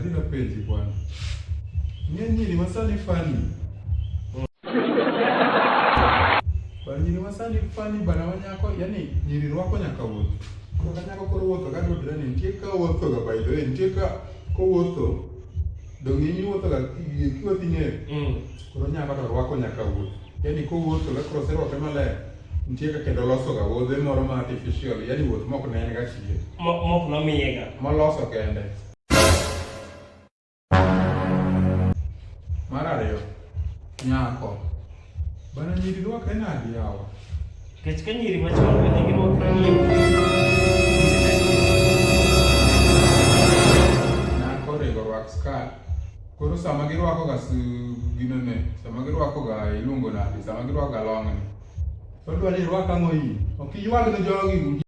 Sina penzi bwana. Nyenye ni masani fani. Banyini wasani fani bana wanyako yani nyiri rwako nyaka wuoth. Koro kanyako koro wuotho ka dodre ni nitie ka wuotho ga by the way nitie ka ko wuotho. Donge ni wuotho ga kiwa tinge. Mm. Koro nyako to rwako nyaka wuoth. Yani ko wuotho ga cross rwako maler. Nitie ka kendo loso ga wuodhe moro ma artificial yani wuoth mok ne en ga chie. Mok nomiye ga. Moloso kende. Mar ariyo, nyako. Bana nyiri rwakre nadi yawa? Kech ka nyiri machon bende girwakre nyiri. Nyako onego rwak skat. Koro sama girwako ga gino ne, sama girwako ga iluongo nadi, sama girwako ga long'ni. Odwa ni irwak ang'o iyi? Ok iywag ne jogi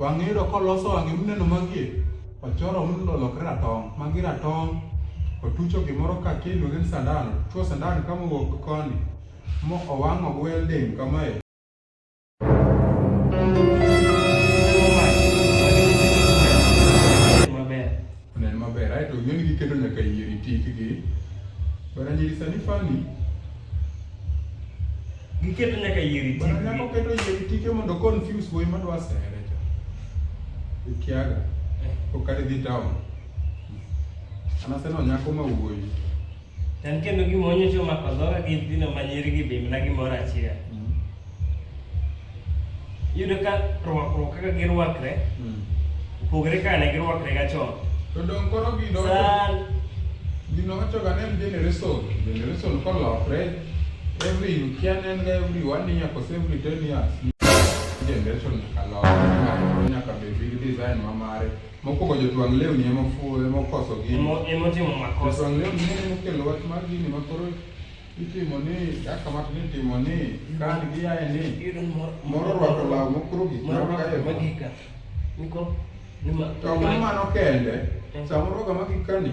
Wang'e yudo koloso wang'e muneno magie, ochoro mundo olokre ratong', magi ratong', otucho gimoro ka kiluonge ni sandan, otucho sandan ka mowuok koni, mo owang'o gi welding kamae. Onen maber aeto yieng' giketo nyaka yier itikgi. Bana nyiri sani fani. Giketo nyaka yier itikgi. Bana nyako keto yier itike mondo confuse wuoyi madwa sere cha. Ikiaga. Eh. Kokadhi dhi town. Anaseno nyako ma wuoyi. Tan kendo gima onyocho mako dhoga gi nyithindo ma nyirigi be mana gimoro achiel. Mm. Iyudo ka rwakruok kaka girwakre mm. opogore kaka ne girwakre ga chon. To dong koro gino gino wachoga ne en generation generation kolokre every you can and every one year kose every ten years generation nyaka lok nyaka bed gi design ma mare. Mokwongo jotwang' lewni ema ofuwo ema okoso gini. Emo- Emotimo makosa. Jotwang' lewni ne ema okelo wach mar gini ma koro itimo ni kaka ma ni itimo ni kan giyaye ni Iyudo ni moro- moro orwako law mokoro gik moro moko orwako kae. magika. Niko- nima- To mano mano kende, Eh. samoro ga magikani